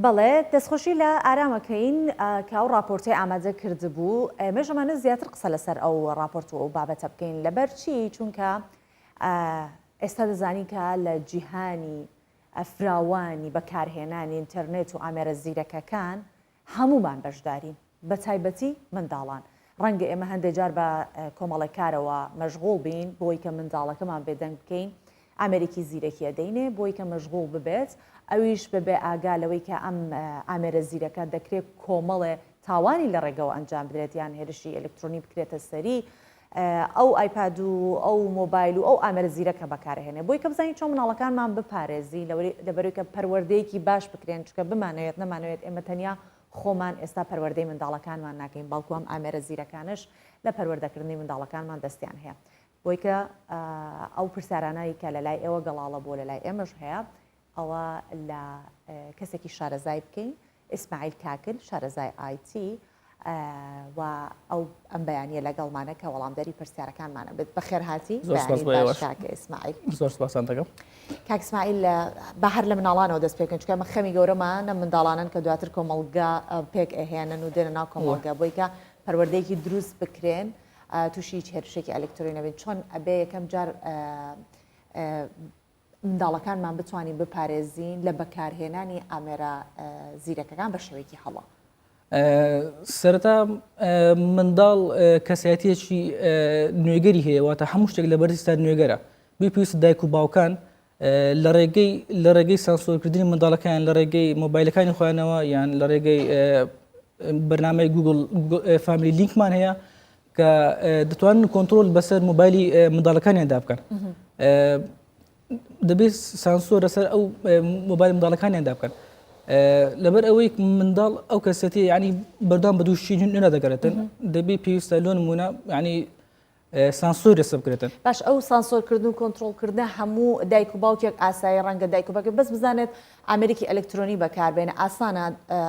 بەڵێ دەستخۆشی لە ئارام ئەکەین کە ئەو ڕاپۆرتەی ئامادە کردبوو ئێمەش ئەمانە زیاتر قسە لەسەر ئەو ڕاپۆرت و ئەو بابەتە بکەین لەبەر چی چونکە ئێستا دەزانی کە لە جیهانی فراوانی بەکارهێنانی ئینتەرنێت و ئامێرە زیرەکەکان هەموومان بەشدارین، بەتایبەتی منداڵان. ڕەنگە ئێمە هەندێک جار بە کۆمەڵێک کارەوە مەشغوڵ بین، بۆی کە منداڵەکەمان بێدەنگ بکەین، ئامێرێکی زیرەکی ئەدەینێ بۆی کە مەشغوڵ ببێت، ئەویش بەبێ ئاگا لەوەی کە ئەم ئامێرە زیرەکە دەکرێت کۆمەڵێ تاوانی لە ڕێگەوە ئەنجام بدرێت یان هێرشی ئەلکترۆنی بکرێتە سەری، ئەو ئایپاد و ئەو مۆبایل و ئەو ئامێرە زیرەکە بەکارئەهێنێ بۆی کە بزانین چۆن مناڵەکانمان بپارێزی لەبەروی کە پەروەردەیەکی باش بکرێن چونکە بمانەوێت نەمانەوێت ئێمە تەنیا خۆمان ئێستا پەروەردەی منداڵەکانمان ناکەین بەڵکو ئەم ئامێرە زیرەکانەش لە پەروەردەکردنی منداڵەکانمان دەستیان هەیە بۆی کە ئەو پرسیارانەی کە لەلای ئێوە گەڵاڵە بۆ لەلای ئێمەش هەیە ئەوا لە کەسێکی شارەزای بکەین ئیسماعیل کاکل شارەزای IT و ئەو ئەم بەیانە لەگەڵمانە کە وەڵامدەری پرسیارەکانمانە بێت بەخێرهاتی زۆر سپاس بۆ بەیانی باش ئێوەش. کاک ئیسماعیل زۆر سپاسان دەکەم کاک ئیسماعیل لە با هەر لە مناڵانەوە دەست پێ بکەین چونکە ئەمە خەمی گەورەمە نە منداڵانن کە دواتر کۆمەڵگا ئە، پێک ئەهێنن و دێنە ناو کۆمەڵگا بۆی کە پەروەردەیەکی دروست بکرێن ئە، تووشی هیچ هێرشێکی ئەلکترۆنی نەبن چۆن ئەبێ یەکەم جار ئە، ئە، منداڵەکانمان بتوانین بپارێزین لە بەکارهێنانی ئامێرە زیرەکەکان بە شێوەیەکی هەڵە. سەرتا منداڵ کەسایەتێکی نوێگەری هەیە واتە هەموو شتێک لە بەرزستا نوێگەرە بپیست دایک و باوکان لە ڕێگەی لە ڕێگەی سانسۆرکردنی منداڵەکان لە ڕێگەی مۆبایلەکانی خوانەوە یان لە ڕێگەی بەرنمەی گوگل فامیلی لینکمان هەیە کە دەتوانن کۆنتترۆل بەسەر موبایلی منداڵەکانیاندا بکەن دەبێت سانسۆر لەسەر ئەو موبایل منداڵەکانیاندا بکەن لەبەر ئەوەی منداڵ ئەو کەسەتی ینی بەردام بە دووشی نوێنە دەگەرێتن دەبێت پێویستە لۆن مونە ینی سانسۆر لەسە بکرێتن باش ئەو سانسۆرکردن و کۆنتترۆلکردە هەموو دایک و باوکێک ئاسایی ڕەنگە دایک و باکە بەس بزانێت ئامێرێکی ئەلکترۆنی بەکاربێنە ئاسانە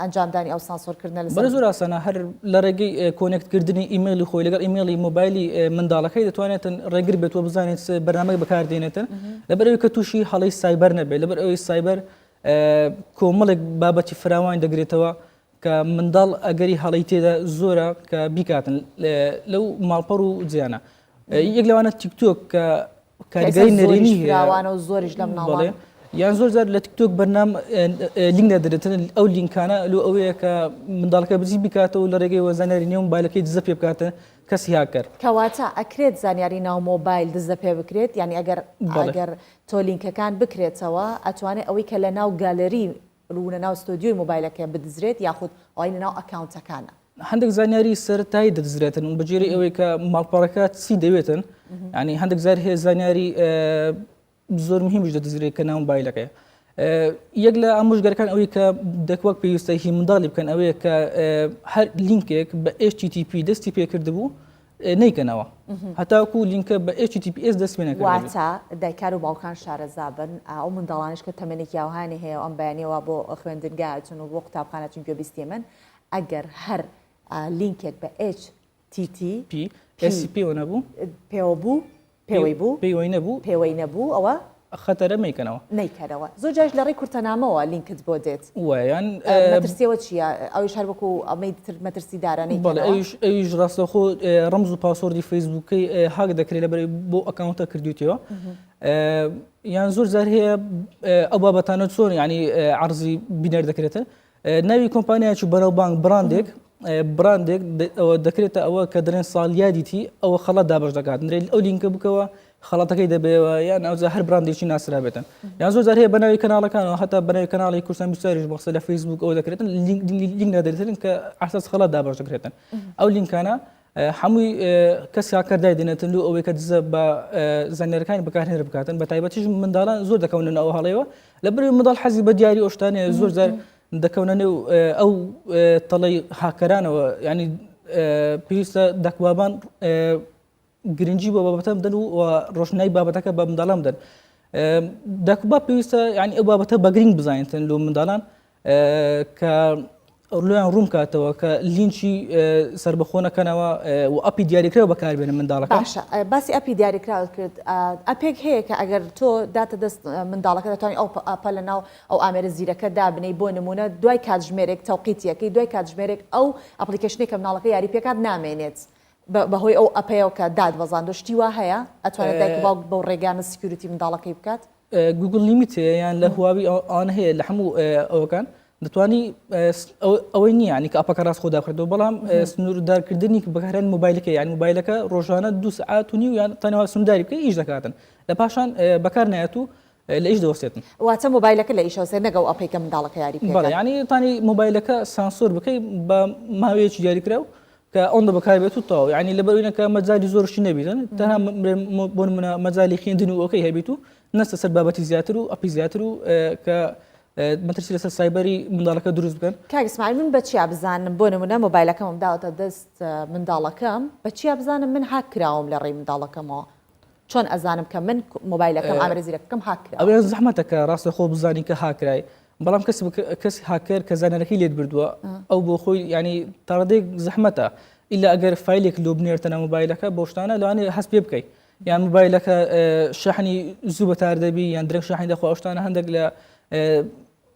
ئەنجامدانی ئەو سانسۆر کردنە لەسەر زۆر ئاسانە هەر لە ڕێگەی کۆنێکت کردنی ئیمەیلی خۆی لەگەڵ ئیمەیلی مۆبایلی منداڵەکەی دەتوانێتن ڕێگر بێت و بزانێت بەرنامەی بەکاردێنێتن لەبەرەوەی کە تووشی هەڵی سایبەر نەبێت لەبەر ئەوەی سایبەر کۆمەڵێک بابەتی فراوانی دەگرێتەوە کە منداڵ ئەگەری هەڵەی تێدا زۆرە کە بیکاتن لەو ماڵپەڕ و جیانە یەک لەوانە تیکتۆک کە کاریگەری نەرێنی هێراوانە و زۆریش لە مناڵێ یان زۆر زار لە تیکتۆک بەرنام لینک نەدرێتن ئەو لینکانە لو ئەوەیە کە منداڵەکە بزی بکاتەوە لە ڕێگەی وەزانیاری نێو مبالەکەی دزە پێ بکاتە کەسی هاکەر کەواتە ئەکرێت زانیاری ناو مۆبایل دزە پێ بکرێت یعنی ئەگەر ئەگەر تۆ لینکەکان بکرێتەوە ئەتوانێت ئەوەی کە لە ناو گالری ڕوونە ناو ستۆدیۆی مۆبایلەکە بدزرێت یاخود ئەوەی لەناو ئەکاونتەکانە؟ هەندێک زانیاری سەرەتایی دەدزرێتن بە جێری ئەوەی کە ماڵپەڕەکە چی دەوێتن ینی هەندێک زار هەیە زانیاری زۆر مهمیش دەدزرێت کە ناو بایلەکەی یەک لە ئامۆژگەرەکان ئەوەی کە دەکوەک پێویستە هی منداڵی بکەن ئەوەیە کە هەر لینکێک بە HTTP دەستی پێکرد بوو نەیکەنەوە هەتاکو لینکە بە HTTPS دەست پێ نەکردبێت. واتە دایکان و باوکان شارەزا بن، ئەو منداڵانەش کە تەمەنێکی ئاوهانی هەیە و ئەم بەیانییە وا بۆ خوێندنگا ئەچن و بۆ قوتابخانە ئەچن گوێ بیستی ئێمەن، ئەگەر هەر لینکێک بە HTTPS پێوە نەبوو، پێوەی بوو، پێوەی نەبوو، پێوەی نەبوو، ئەوە. خەتەرە مەیکەنەوە. مەیکەرەوە. زۆر جاریش لە ڕێی کورتەنامەوە لینکت بۆ دێت. وە یان. مەترسییەوە چییە؟ ئەویش هەر وەکو ئەمەی تر مەترسیدارە نەیکەنەوە؟ بەڵێ ئەویش، ئەویش ڕاستەوخۆ ڕەمز و پاسۆڕدی فەیسبووکەی هاک دەکرێت لەبەر ئەوەی بۆ ئەکاونتە کردوویتەوە. یان زۆر جار هەیە ئەو بابەتانە چۆن یانی عەڕزی بینەر دەکرێتن؟ ناوی کۆمپانیایەک و بەناوبانگ بڕاندێک بڕاندێک دەکرێتە ئەوە کە دەرێن ساڵیادیتی ئەوە خەڵات دابش دەکات نرێت ئەو لینکە بکەوە خەڵاتەکەی دەبێەوە یان ئەوزە هەر بڕاندێکی ناسرا بێتن یان زۆر جار هەیە بەناوی کەناڵەکانەوە هەتا بەناوی کەناڵی کوردستان بیستاریش بەخسە لە فەیسبوک ئەو دەکرێتن لینک نادرێتن کە ئاساس خەڵات دابش دەکرێتن ئەو لینکانە حەمووی کەس کاکە دایدەنێتن لۆ ئەوەی کە دزە بە زانیارەکانی بەکارهێنەر بکاتن بە تایبەتیش منداڵان زۆر دەکەونن ئەو هەڵەیەوە لە بری منداڵ حەزی بە دیاری ئۆشتانێ زۆر زار دەکەونە نێو ئەو تەڵی هاکەرانەوە ینی پێویستە دەکبابان گرنگجی بۆ بابەتە بدەن و ڕۆشنای بابەتەکە بە منداڵان بدەن دەکبا پێویستە ینی ئەو بابەتە بەگرنگ بزانێتن لۆ منداڵان کە لۆیان ڕوون بکاتەوە کە لینچی سەربەخۆ نەکەنەوە و ئەپی دیاریکراو بەکاربێنە منداڵەکە باشە باسی ئەپی دیاریکراوت کرد ئەپێک هەیە کە ئەگەر تۆ داتە دەست منداڵەکە دەتوانانی ئەو ئەپە لە ناو ئەو ئامێرە زیرەکە دابنەی بۆ نمونە دوای کاتژمێرێک تەوقیتیەکەی دوای کاتژمێرێک ئەو ئەپلیکەشنێک کە مناڵەکە یاری پێکات نامێنێت بەهۆی ئەو ئەپەیەوە کە داتبەزاندوە شتی وا هەیە ئەتوانێت دایک و باوک بەو ڕێگانە سکیوریتی منداڵەکەی بکات؟ گوگڵ لیمیت هەیە یان لە هواوی ئەوانە هەیە لە هەموو ئەوەکان دەتوانی ئەوەی نییە یانی کە ئەپەکە ڕاست خۆدا کردو بەڵام سنووردارکردنی بەکارهێن مۆبایلەکە یان مۆبایلەکە ڕۆژانە دو سعات و نیو یان تەنەوە سنوورداری بکەی ئیش دەکاتن لە پاشان بەکار نایەت و لە ئیش دەوەستێتن. واتە مۆبایلەکە لە ئیش ئەوسێ نەک ئەو ئەپەی کە منداڵەکە یاری پێکەن. بەڵێ یانی توانی مۆبایلەکە سانسۆر بکەی بە ماوەیەکی دیاریکراو کە ئەوەندە بەکار بێت و تەواو یانی لەبەر ئەوی نەکە مەجالی زۆر شتی نەبینن تەنها بۆ نمونە مەجالی خوێندن و ئەوکەی هەبیت و نەستە سەر بابەتی زیاتر و ئەپی زیاتر و کە مەترسی لەسەر سایبەری منداڵەکە دروست بکەن کاگسمان من بە چیا بزانم بۆ نمونە مۆبایلەکەمم داوەتە دەست منداڵەکەم بە چیا بزانم من هاک کراوم لە ڕێی منداڵەکەمەوە چۆن ئەزانم کە من مۆبایلەکەم ئامرە زیرەکەکەم هاکرا ئەوێ زەحمەتە کە ڕاستە خۆ بزانین کە هاکرای بەڵام کەس کەس هاکەر کە زانەرەکەی لێت بردووە ئەو بۆ خۆی ینی تاڕدێک زەحمەتە ئیلا ئەگەر فیلێک لۆ بنێرتەنە مۆبایلەکە بۆ شتانە لەوانێ هەست پێ بکەیت یان مۆبایلەکە شەحنی زوو بەتار دەبی یان درێک شەحنی دەخوا شتانە هەندێک لە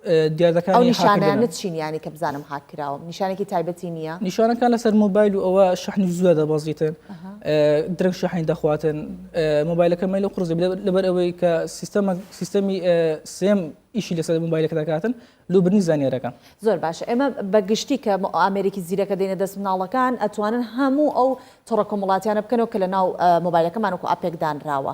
ئەو نیشانانە چین یانی کە بزانم هاک کراوم نیشانێکی تایبەتی نییە؟ نیشانەکان لەسەر مۆبایل و ئەوە شحنی زووە دەبەزیتن درەنگ شحنی دەخواتن مۆبایلەکە مەل و قرزی لەبەر ئەوەی کە سیستەمە سیستەمی سێم ئیشی لەسەر مۆبایلەکە دەکاتن لوبرنی زانیارەکە زۆر باش ئێمە بە گشتی کە ئامریکی زیرەکە دێنە دەست مناڵەکان ئەتوانن هەموو ئەو تڕە کۆمەڵاتیانە بکەنەوە کە لە ناو مۆبایلەکەمان وکو ئاپێکدانراوە.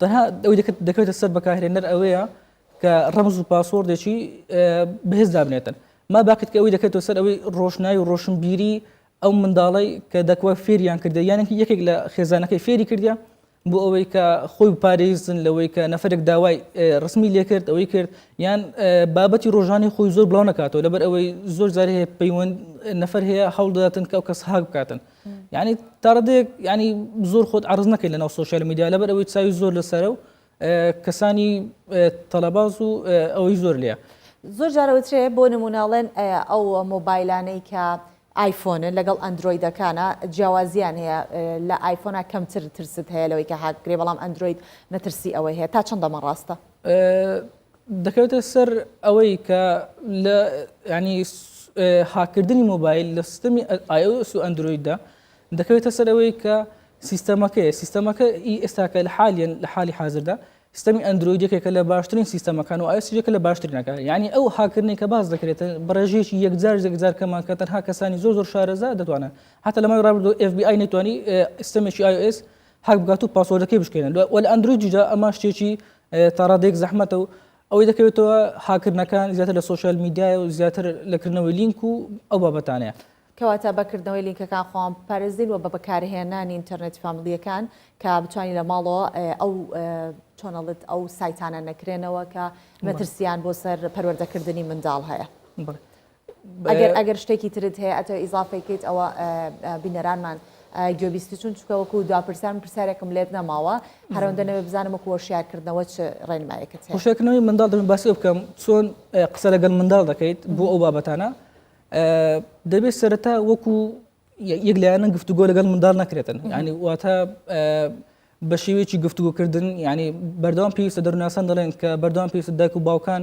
تەنها ئەوەی دەکەوێتە سەر بەکارهێنەر ئەوەیە کە ڕەمز و پاسۆردێکی بەهێز دابنێتن ما باکت کە ئەوەی دەکەێتەوە سەر ئەوەی ڕۆشنایی و ڕۆشنبیری ئەو منداڵی کە دەکوە فێریان کردە یانێکی یەکێک لە خێزانەکەی فێری کردە بۆ ئەوەی کە خۆی پارێزن لەوەی کە نەفرێک داوای ڕسمی لێکرد ئەوەی کرد یان بابەتی ڕۆژانی خۆی زۆر بڵاو نکاتەوە لەبەر ئەوەی زۆر جارێ پەیوەند نەفر هەیە هەوڵداتن کە ئەو کەس هاک بکاتن یانی تاڕادەیەک ینی زۆر خۆت عرض نەکەیت لەناو سوۆسیال میدیا لەبەر ئەوەی چاوی زۆر لەسەرە و کەسانی تەلەباز و ئەوەی زۆر لێە زۆر جارەوەترێ بۆ نموناڵێن ئەو مۆبایلانەی کە ئایفۆنە لەگەڵ ئەندرویدەکانە جیاوازیان هەیە لە ئایفۆنا کەمتر ترست هەیە لەوەی کە هاکرێ بەڵام ئەندروید مەترسی ئەوەی هەیە تا چەندەمە ڕاستە دەکەوێتە سەر ئەوەی کە لە ینی هاکردنی مۆبایل لە سیستمی ئایۆس و ئەندرویددا دەکەوێتە سەر ئەوەی کە سیستەمەکەیە سیستەمەکە ئی ئێستاکە لە حالیان لە حالی حاضردا سیستمی ئەندرویدەکێکە لە باشترین سیستەمەکان و ئایسیەکە لە باشترینەکە یعنی ئەو هاکردنی کە باز دەکرێت بڕێژێکی یەکجار یەکجار کەمان کە تەنها کەسانی زۆر زۆر شارەزا دەتوانن حتا لەمای ڕابردو FBI نەتوانی سیستمێکی iOS هەک بکات و پاسۆردەکەی بشکێنێت وە لە ئەندرویدیشدا ئەمە شتێکی تا ڕادەیەک زەحمەتە و ئەوەی دەکەوێتەوە هاکردنەکان زیاتر لە سوسیال میدیای و زیاتر لەکردنەوەی لینک و ئەو بابەتانەیە کەواتە بەکردنەوەی لینکەکان خۆان پارێزین و بە بەکارهێنانی ئینتەرنێتی فامیلییەکان کە بتوانین لە ماڵەوە ئەو چۆنەڵت ئەو سایتانە نەکرێنەوە کە مەترسیان بۆ سەر پەروەردەکردنی منداڵ هەیە. ئەگەر ئەگەر شتێکی ترت هەیە ئەتەوە ئیزافەی کەیت ئەوە بینەرانمان گوێبیستی چون چکەوەکو دو پرسیار من پرسیارێکم لێت نەماوە هەرەوەندە نەوێ بزانم وەکو هۆشیارکردنەوە چ ڕێنمایەکەت هەیە. هۆشیارکردنەوەی منداڵ دەبێت باسی بکەم چۆن قسە لەگەڵ منداڵ دەکەیت بۆ ئەو بابەتانە دەبێت سەرەتا وەکو یەک لایەنە گفتوگۆ لەگەڵ منداڵ نەکرێتن ینی واتە بە شێوەیەکی گفتوگۆکردن ینی بەردەوام پێویستە دەروناسان دەڵێن کە بەردەوام پێویستە دایک و باوکان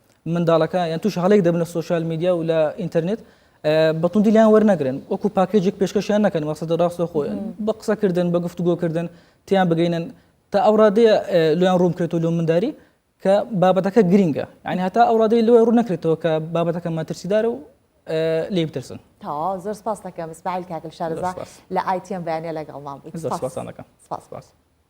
منداڵەکە یان توش هەڵێک دەبنە سوۆشال میدیا و لە ئینتەرنێت بەتوندی لیان وەرنەگرن وەکو پاکێجێک پێشکەشیان نەکەن مەسەدە ڕاستە خۆیان بە قسەکردن بە گفتوگۆکردن تیان بگەینن تا ئەو ڕادەیە لۆیان ڕوومکرێت و لۆ منداری کە بابەتەکە گرینگە یعنی هەتا ئەو ڕادەی لۆی ڕوو نەکرێتەوە کە بابەتەکە مەترسیدار و لێ بترسن تا زۆر سپاس دەکەم سمایل کاکل شارزا لە ئایتیان بەیانە لەگەڵمان بووی سپاسانەکەم سپاس.